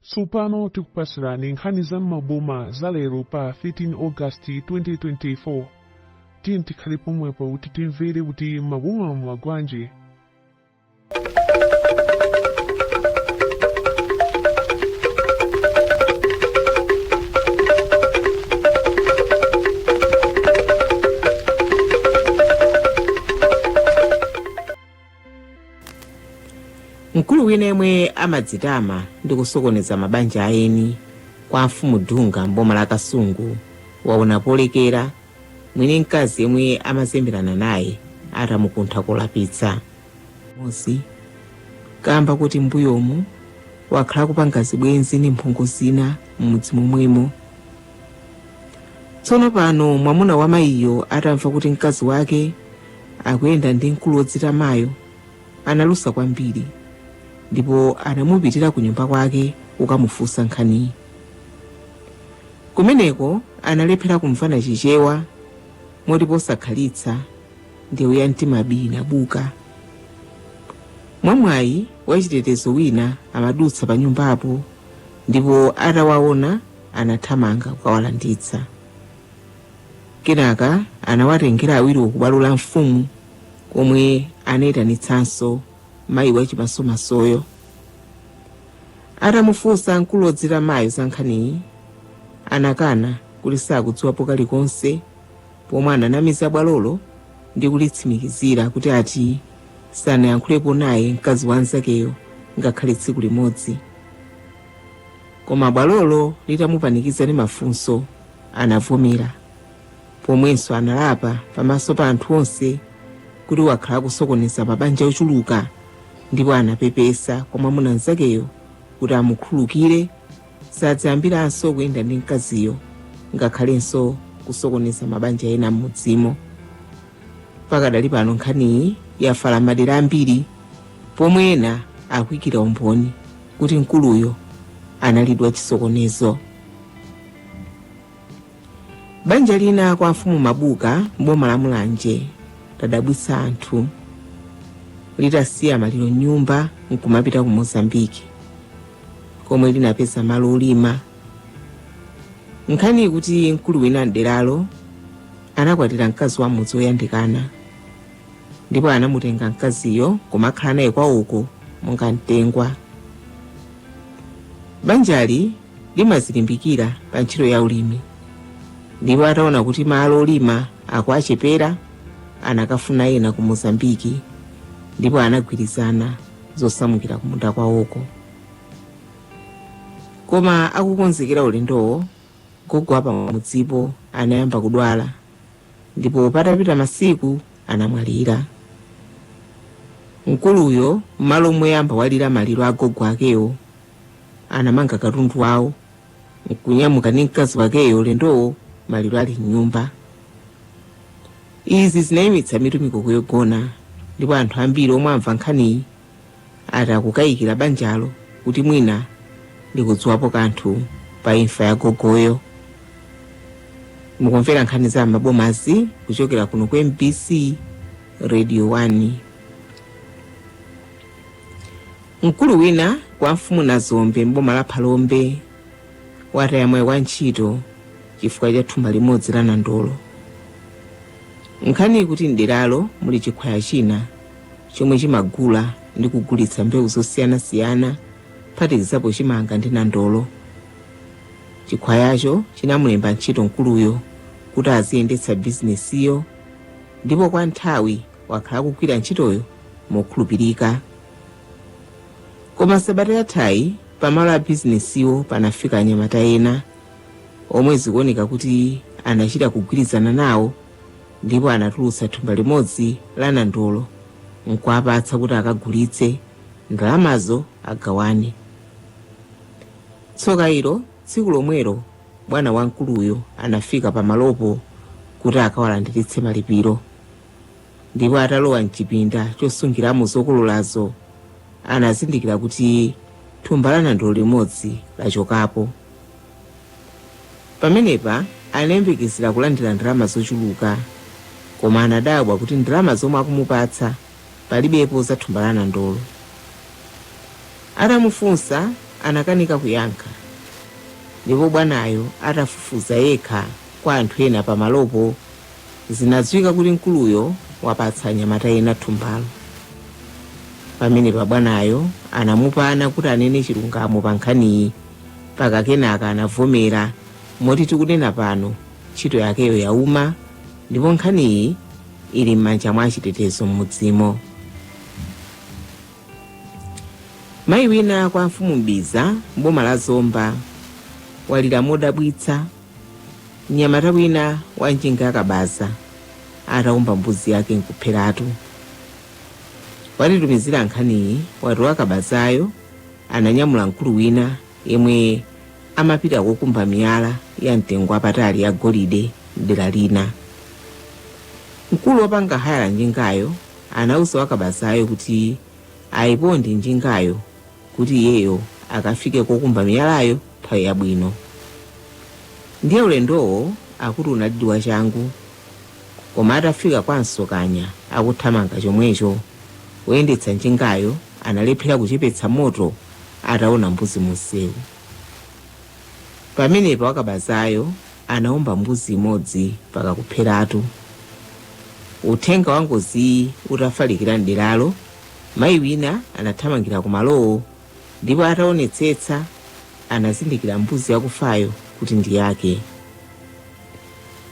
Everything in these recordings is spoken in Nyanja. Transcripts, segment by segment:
Tsopano tikupatsirani nkhani za m'maboma za lero pa 13 August 2024. Tiyeni tikhale pomwepo kuti timvere kuti m'maboma mwagwanji. Mkulu wina yemwe amadzitama ndi kusokoneza mabanja a eni kwa amfumu Dunga m'boma la Kasungu waona polekera mwini mkazi yemwe amazemberana naye atamukuntha kolapitsa m'mudzi kamba kuti m'mbuyomu wakhala akupanga zibwenzi ndi mphongo zina m'mudzi momwemo. tsono pano mwamuna wa mayiyo atamva kuti mkazi wake akuyenda ndi mkulu wodzitamayo analusa kwambiri ndipo anamupitira ku nyumba kwake kukamufunsa nkhaniyi kumeneko analephera kumvana chichewa moti posakhalitsa ndewu ya mtima bii inabuka mwamwayi wachitetezo wina amadutsa pa nyumbapo ndipo atawaona anathamanga kukawalanditsa. Kenaka anawatengera awiriwo ku bwalo la mfumu komwe anayitanitsanso mayi wachimasomasoyo. Atamufunsa mkulu wodzitamayo za nkhaniyi, anakana kuti sakudziwapo kalikonse pomwe ananamiza bwalolo ndi kulitsimikizira kuti ati sanayankhulepo naye mkazi wa mnzakeyo ngakhale tsiku limodzi. Koma bwalolo litamupanikiza ndi mafunso, anavomera, pomwenso analapa pamaso pa anthu onse kuti wakhala akusokoneza mabanja ochuluka ndipo anapepesa kwa mwamuna mnzakeyo kuti amukhululukire sadzayambiranso kuyenda ndi mkaziyo ngakhalenso kusokoneza mabanja ena m'mudzimo. Pakadali pano nkhaniyi yafala m'madera ambiri pomwe ena akuikira umboni. kuti mkuluyo analidi wachisokonezo banja lina kwa amfumu mabuka m'boma la mulanje ladabwitsa anthu litasiya maliro m'nyumba nkumapita ku mozambiki komwe linapeza malo olima nkhani ikuti mkulu wina m'deralo anakwatira mkazi wa m'mudzi woyandikana Ndipo anamutenga mkaziyo kumakhala naye kwawoko monga mtengwa. Banjali limazilimbikira pa ntchito ya ulimi ndipo ataona kuti malo olima akuwachepera anakafuna ena ku Mozambiki ndipo anagwirizana zosamukira kumunda kwawoko. Koma akukonzekera ulendowo, gogo wa pamudzipo anayamba kudwala ndipo patapita masiku anamwalira. Mkuluyo m'malo moyamba walira maliro a gogo akewo, anamanga katundu wawo nkunyamuka ndi mkazi wakeyo ulendowo maliro ali m'nyumba. Izi zinayimitsa mitu mikoko yogona ndipo anthu ambiri omwe amva nkhaniyi ati akukayikira banjalo kuti mwina likudziwapo kanthu pa imfa ya gogoyo mukumvera nkhani za m'mabomazi kuchokera kuno ku mbc radio 1 mkulu wina kwa mfumu nazombe mboma la phalombe wataya mwayi wa ntchito chifukwa cha thumba limodzi la nandolo nkhani ikuti mderalo muli chikhwaya china chomwe chimagula ndi kugulitsa mbewu zosiyanasiyana kuphatikizapo chimanga ndi nandolo. Chikhwayacho chinamulemba ntchito mkuluyo kuti aziyendetsa bizinesiyo ndipo kwa nthawi wakhala akugwira ntchitoyo mokhulupirika. Koma sabata yathayi pamalo a bizinesiwo panafika anyamata ena omwe zikuoneka kuti anachita kugwirizana nawo Ndipo anatulutsa thumba limodzi la nandolo n'kuwapatsa kuti akagulitse, ndalamazo agawane. Tsoka ilo, tsiku lomwelo bwana wa mkuluyo anafika pamalopo kuti akawalandiritse malipiro. Ndipo atalowa m'chipinda chosungiramo zokololazo, anazindikira kuti thumba la nandolo limodzi lachokapo. Pamenepa anayembekezera kulandira ndalama zochuluka koma anadabwa kuti ndalama zomwe akumupatsa palibepo za thumba la nandolo. Atamufunsa anakanika kuyankha ndipo bwanayo atafufuza yekha kwa anthu ena pa malopo zinadziwika kuti mkuluyo wapatsa anyamata ena thumbalo. Pamenepa bwanayo anamupana kuti anene chilungamo pa nkhaniyi. mpaka kenaka anavomera moti tikunena pano ntchito yakeyo yauma ndipo nkhaniyi ili m'manja mwa achitetezo m'mudzimo mayi wina kwa mfumu mbiza mboma la zomba walira modabwitsa mnyamata wina wa njinga yakabaza ataomba mbuzi yake nkupheratu watitumizira nkhaniyi wati wakabazayo ananyamula mkulu wina yemwe amapita kokumba miyala ya mtengo wapatali ya golide m'dera lina. Mkulu wopanga haya njingayo anauza wakabazayo kuti ayiponde njingayo kuti iyeyo akafike kokumba miyalayo nthawi yabwino. Ndiye ulendowo akuti unalidi wachangu, koma atafika kwa Msokanya akuthamanga chomwecho, woyendetsa njingayo Analephera kuchepetsa moto ataona mbuzi munsewu. Pamenepo wakabazayo anaomba mbuzi imodzi mpaka kupheratu. Uthenga wa ngoziyi utafalikira m'deralo, mayi wina anathamangira kumalowo ndipo ataonetsetsa anazindikira mbuzi yakufayo kuti ndi yake.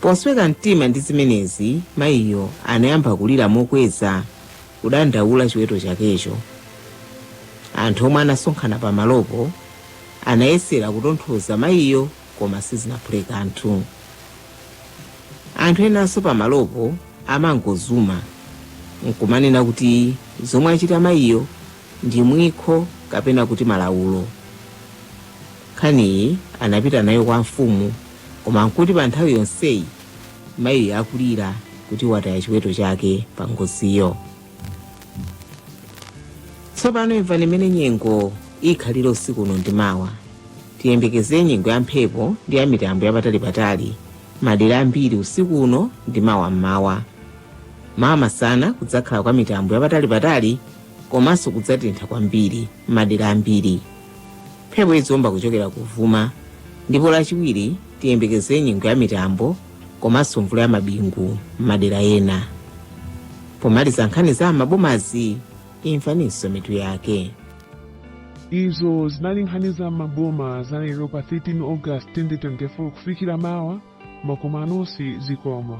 Posweka mtima ndi zimenezi, mayiyo anayamba kulira mokweza. kudandaula chiweto chakecho. Anthu omwe anasonkhana pamalopo anayesera kutonthoza mayiyo koma sizinaphule kanthu. Anthu enanso pamalopo amangozuma n'kumanena kuti zomwe achita mayiyo ndi mwikho kapena kuti malawulo. Nkhaniyi anapita nayo kwa amfumu koma n'kuti pa nthawi yonseyi Mayiyo akulira kuti wataya chiweto chake pa ngoziyo. Tsopano imvani mmene nyengo ikhalire usiku uno ndi mawa. Tiyembekeze nyengo ya mphepo ndi ya mitambo yapatalipatali madera ambiri usiku uno ndi mawa mmawa. Mawa masana kudzakhala kwa mitambo yapatalipatali komanso kudzatentha kwambiri madera ambiri. Mphepo idziomba kuchokera kuvuma ndipo lachiwiri Tiyembekeze nyengo ya mitambo komanso mvula ya mabingu m'madera ena. Pomaliza nkhani za m'mabomazi, imvaninso mitu yake. Izo zinali nkhani za m'maboma za lero pa 13 August 2024 kufikira mawa wakuma nonse zikomo.